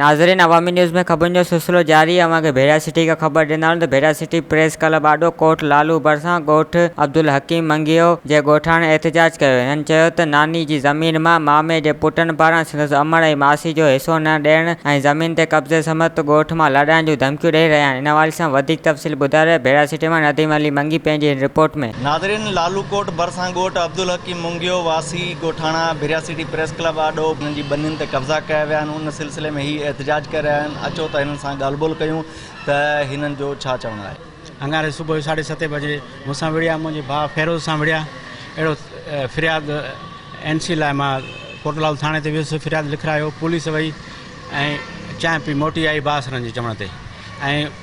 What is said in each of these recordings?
ناظرين عوامي نيوز ۾ خبرن جو سلسلو جاري آهي اوهان کي ڀيرا سٽي کان خبر ڏيندا ته ڀيرا سٽي پريس ڪلب آڏو ڪوٽ لالو ڀرسان ڳوٺ عبدالحڪيم منگيو جي ڳوٺاڻن احتجاج ڪيو هنن چيو ته ناني جي زمين مان مامي جي پٽن پاران سندس امڙ ۽ ماسي جو حصو نه ڏيڻ ۽ زمين تي قبضي سمت ڳوٺ مان لڏائڻ جون ڌمڪيون ڏئي رهيا آهن ان حوالي سان وڌيڪ تفصيل ٻڌاري بيراسيٽيمال نديم علي منگي پنهنجي هن رپورٽ ۾. ناظرين لاالوڪوٽ ڀرسان ڳوٺ عبدالحڪيم منگيو واسي ڳوٺاڻا ڀيراسيٽي پريس ڪلب آڏو هنن جي ٻنين تي قبضا ڪيا ويا آهن ان سلسلي ۾ هي احتجاج ڪري رهيا آهن اچو ته هنن سان ڳالهه ٻولهه ڪيون ته هنن جو ڇا چوڻ آهي. اڱاري صبح جو ساڍي ستين بجي مون سان وڙهيا منهنجي ڀاء فيروز سان وڙهيا اهڙو فرياد اين سي لاء مان ڪوٽلال ٿاڻي تي ويس فرياد لکرايو پوليس وئي ۽ چانهه پي موٽي آئي بااثرن جي چوڻ تي ۽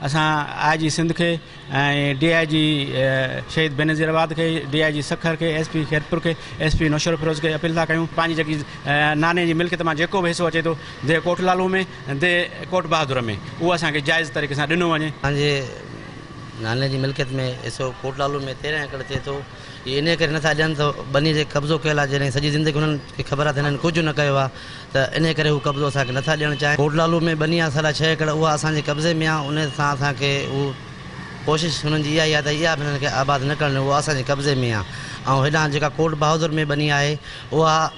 اسان آء جي سنڌ کي ۽ ڊي آء جي شهيد بينظير آباد کي، ڊي آء جي سکر کي، ايس پي خيرپور کي، ايس پي نوشهروفيروز کي اپيل ٿا ڪيون. پنهنجي جيڪي ناني جي ملڪيت مان جيڪو به حصو اچي ٿو ديهه ڪوٽ لالو ۾ ديهه ڪوٽ بهادر ۾ اهو اسان کي جائز طريقي سان ڏنو وڃي. پنهنجي ناني جي ملڪيت ۾ حصو ڪوٽ لالو ۾ تيرنهن ايڪڙ ٿئي ٿو. اهي انهيء ڪري نٿا ڏين ته ٻنيء جي قبضو ڪيل آهي، جيڏانهن سڄي زندگي هنن کي خبر آهي ته هنن ڪجهه نه ڪيو آهي ته انهيء ڪري هو قبضو اسان کي نٿا ڏيڻ چاهين. ڪوٽ لالو ۾ ٻني آهي ساڍا ڇهه ايڪڙ، اها اسان جي قبضي ۾ آهي، انهيء سان اسان کي اهو ڪوشش هنن جي اها ئي آهي ته اها به هنن کي آباد نه ڪرڻ ڏيون، اها اسان جي قبضي ۾ آهي ۽ هيڏانهن جيڪا ڪوٽ بهادر ۾ ٻني آهي، اها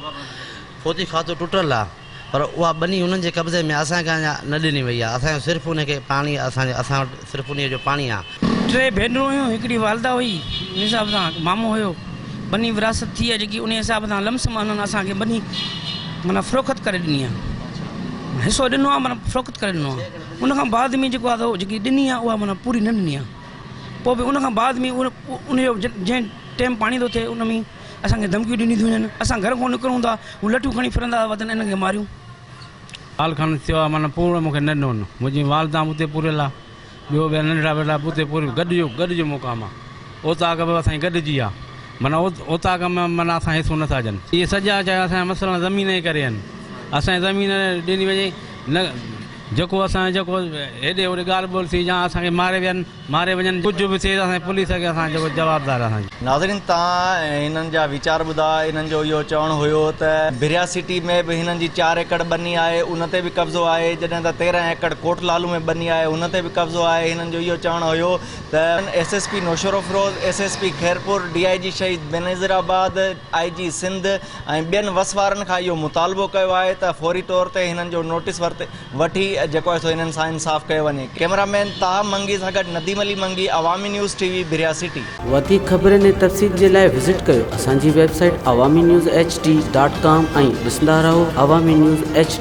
ڦوتي کاتو ٽٽل آهي. پر اها ٻني انهن جي قبضي ۾ اسان کي اڃا نه ڏني وئي آهي. اسان جو صرف انهي کي پاڻي آهي. اسان اسان وٽ صرف انهيء جو پاڻي آهي. ٽي ڀينرون هيون، هڪڙي والده هئي، انهي حساب سان هڪ مامو هيو. ٻني وراثت ٿي آهي جيڪي انهي حساب سان لم سم انهن اسان کي ٻني معنيٰ فروخت ڪري ڏني آهي. حصو ڏنو آهي معنيٰ فروخت ڪري ڏنو آهي. ان کان بعد ۾ جيڪو آهي جيڪي ڏني آهي اها معنيٰ پوري نه ڏني آهي. پوء به ان کان بعد ۾ انهي جو جنهن ٽيم پاڻي ٿو ٿئي ان ۾ اسان کي ڌمڪيون ڏنيون ٿيون وڃن، اسان گهر کان نڪرون ٿا، هو لٺيون کڻي ڦرندا ٿا وتن، انهن کي ماريون. آل خان ٿيو آ معنيٰ پوڙهو مون کي نه ڏنو هن، منهنجي والده به اتي پورهيل آ، ٻيو ٻيا ننڍڙا وڏڙا به اتي پورهيل، گڏ جو گڏ جو مقام آ، اوطاق به اسان جي گڏ جي آ، معنيٰ اوطاق ۾ معنيٰ اسان کي حصو نه ٿا ڏين. اهي سڄا چيا اسان جا مسئلا زمين جي ڪري آهن، اسان کي زمين ڏني وڃي، نه جيڪو اسان جيڪو هيڏي هوڏي ڳالهه ٻولهه ٿي يا اسان کي ماري ويا آهن، ماري وڃن ڪجهه به ٿئي ته اسان جي پوليس اڳيان اسان جيڪو جوابدار اسان جي. ناظرين تان هنن جا ويچار ٻڌا هنن جو اهو چوڻ هيو ته بريا سٽي ۾ به هنن جي چار ايڪڙ ٻني آهي ان تي به قبضو آهي جڏهن ته تيرهن ايڪڙ ڪوٽ لالو ۾ ٻني آهي ان تي به قبضو آهي هنن جو اهو چوڻ هيو ته S S P Naushahro Feroze S S P Khairpur D I G Shaheed Benazir آباد آئي جي سنڌ ۽ ٻين وس وارن کان اهو مطالبو ڪيو آهي ته فوري طور تي هنن جو نوٽيس ورتي وٺي جيڪو آهي سو انهن سان انصاف ڪيو وڃي. ڪيمرا مين طاهه منگي سان گڏ Nadeem Ali Mangi Awami news T V بريا سٽي. وڌيڪ خبرن ۽ تفصيل جي لاء وزٽ ڪيو اسان جي web site Awami news H D dot com ۽ ڏسندا رهو عوامي نيوز ايڇ ڊي.